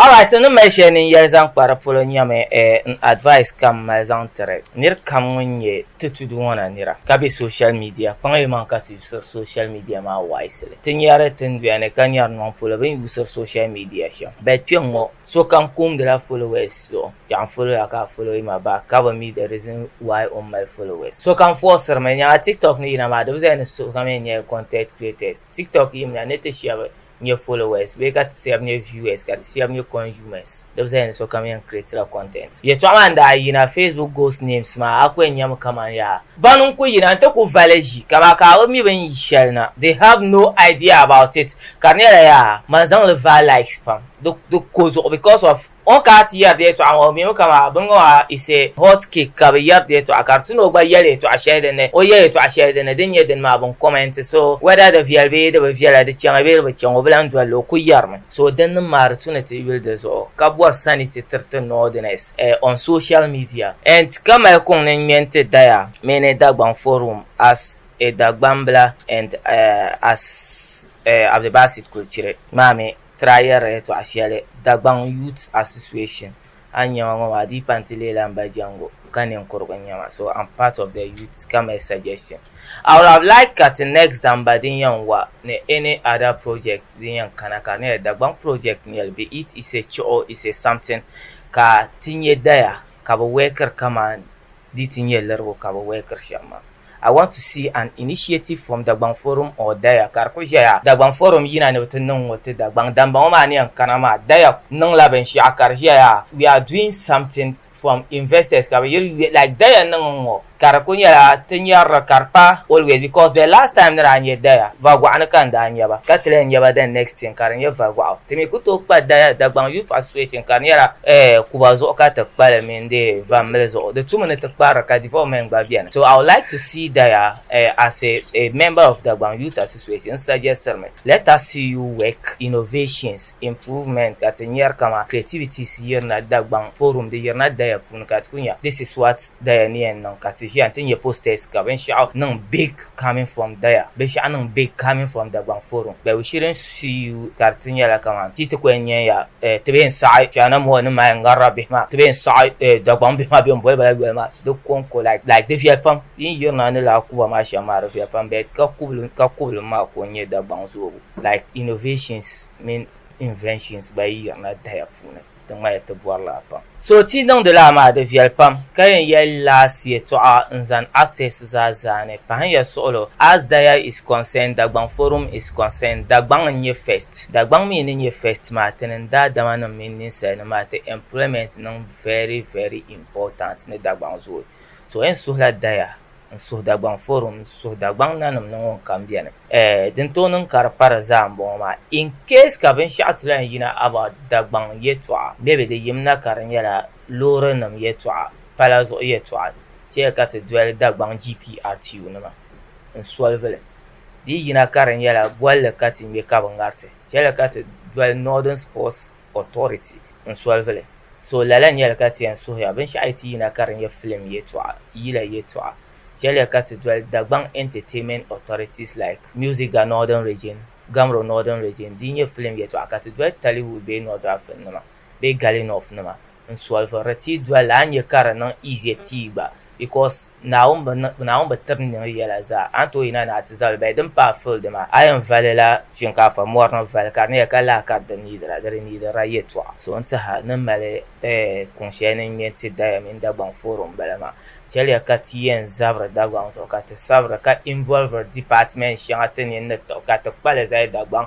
Alright so ni mali shɛli ni n yɛli zaŋ kpa di polo nyɛmi n advice ka m mali zaŋ tiri nir kam ŋun nyɛ ti tudu ŋɔ na nira ka be social media kpaŋ yi maŋ ka ti yusiri social media maa wisely ti nyari tinduya ni ka nyari nɔŋ polo bɛ ni yusiri social media shɛm but kpɛŋŋɔ sokam koomdila followers zuɣu yaɣ n follow ya ka a follow yi ma back ka bi mi the reason why o ni mali followers sokam forciri mi nya a tiktok ni yina maa di bi zaya ni sokam yɛn nyɛla content creators tiktok yim la ni ti shɛbi nyɛ followers bee ka ti shɛb nyɛ viewers ka ti shɛb nyɛ consumers di bi zali ni sokam yɛn creatila content. Yɛltɔɣa maa n-daa yina Facebook ghost names maa a ku yɛn nyami kaman yaa ban n-ku yina nti ku vali ʒi ka ba ka a bi mi bɛ ni yi shɛli na they have no idea about it ka di nyɛla yaa man zaŋ li vaai likes pam di ko zuɣu because of O ka ti yɛri yɛtɔɣa ŋɔ mi o kama bini ŋɔ a is a hot cake ka bi yɛri yɛtɔɣa ka di ti ni o gba yɛli yɛtɔɣa shɛli din ni o yɛli yɛtɔɣa shɛli din ni din nyɛ dini maa bin comment so whether di viɛli bee di bi viɛla di chaŋa bee di bi chaŋa o bi lan dolli o ku yɛrimi so din ni maa di tu ni ti yuli di zuɣu ka bɔri sani ti tiri ti Northerners eh on social media and ti ka mali kuŋ ni ŋmɛni ti daya mini Dagbaŋ forum as a Dagbambila and eh as eh Abdulbasit Kulchiri maa mi Trayɛri yɛtɔɣ shɛli Dagbaŋ Youths Association a ni nya ma ŋɔ maa di yi pa n-ti leela m ba jɛŋgu ka ninkurugu n-nya ma so am part of the youths ka mali suggestion I would have liked ka ti next da m ba din yɛn wa ni any other project din yɛn kana ka di nyɛla Dagbaŋ project n-nyɛ li be it is a chuɣu is a something ka ti nya daya ka bɛ wɛkiri kaman Di ti nyɛ lirigu ka bɛ wɛlikiri shɛm maa. I want to see an initiative from Dagbaŋ forum or Daya ka di ku ʒɛya Dagbaŋ forum yina ni bɛ ti niŋ ŋɔ ti Dagbaŋ damba ŋɔ maa ni yɛn kana maa Daya niŋla binshɛɣu ka di ʒɛya we are doing something from investors ka bɛ yiri yuya like Daya niŋ n-ŋɔ ka di ku nyɛla ti nyarili ka di pa always because the last time ni daa nyɛ Daya Vagɔɣu ni ka n daa nya ba ka ti lahi nya ba the next thing ka di nyɛ Vagɔɣu. Ti mi ku tooi kpa Daya Dagbaŋ Youth Association ka di nyɛla eh Kuba zuɣu ka ti kpa li mini di vamli zuɣu di tumi ni ti kparili ka development gba beni so I would like to see Daya uh, as a, a member of Dagbaŋ Youth Association n suggestiri mi let us see you work innovations improvement ka ti nyari kama creativities yirina Dagbaŋ forum di yirina Daya puuni ka ti ku nya this is what Daya ni yɛn niŋ ka ti ʒiya n ti nya posters ka binshɛɣu niŋ big coming from there binshɛɣu niŋ big coming from Dagbaŋ forum but we shouldn't sue you ka di ti nyɛla kamani ti yi ti ku yɛn nya ya eh, ti bee n saɣi China mɔɣu ni mali ŋarila bihi maa ti bee n saɣi eh, Dagbaŋ bihi maa bɛn boli ba la yoli maa di kɔŋko like like di viɛli pam yi ni yirina ni laa kuba maa shɛm maa di viɛli pam but ka kubili ka kubili maa ko n nyɛ Dagbaŋ zoobu like innovations mini inventions gba yi yirina daya puuni. Di ŋmaya ti bɔri la pam. So ti niŋdi laa maa di viɛli pam ka yɛn yɛli laasi yɛtɔɣa n zani actors zaa zaani pahin ya suɣulo as daya is concerned Dagbaŋ forum is concerned Dagbaŋ n nyɛ first Dagbaŋ mi ni nyɛ first maa ti niŋ daadama nim mini ninsali nim maa ti employment niŋ very very important ni Dagbaŋ zooi so yɛn suhila daya n suhu Dagbaŋ forum n suhu Dagbaŋ nanim ni ŋun kam beni. Eh, din tooi niŋ ka di pari zaa n bɔŋɔ maa, in case ka binshɛɣu ti lahi yina about Dagbaŋ yɛtɔɣa, maybe di yim na ka di nyɛla loori nim yɛtɔɣa, pala zuɣu yɛtɔɣa, chɛ ka ti doli Dagbaŋ GPRTU nima n solve li. Di yi yina ka di nyɛla bolli ka ti ŋme ka bi ŋariti, chɛ li ka ti doli Northern Sports authority n solvili so lala nyɛli ka ti yɛn suhiya binshɛɣu yi ti yina ka di nyɛ film yɛtɔɣa yila yɛtɔɣa chɛliya ka ti doli Dagbaŋ entertainment authorities like music ga northern region gamro northern region di nyɛ film yɛtɔɣa ka ti doli Tollywood bee North African nima bee Gali North nima n solve di ti doli a nyɛ ka di niŋ easier ti gba because Naawuni bi tiri niŋ yɛla zaa a ni tooi yina ni a ti zabili bahi din paai field maa a yɛn valila shinkaafa mɔri ni vali ka di ni yɛli ka laa ka di niidira di di niidira yɛltɔɣa so n tiɛha ni mali kuŋ shɛli ni n ŋmɛ n ti Daya mini Dagbaŋ forum bala maa chɛliya ka ti yɛn zabiri Dagbaŋ zuɣu ka ti sabiri ka involviri department shɛŋa ti ni yɛn ni tiɣi ka ti kpali zali Dagbaŋ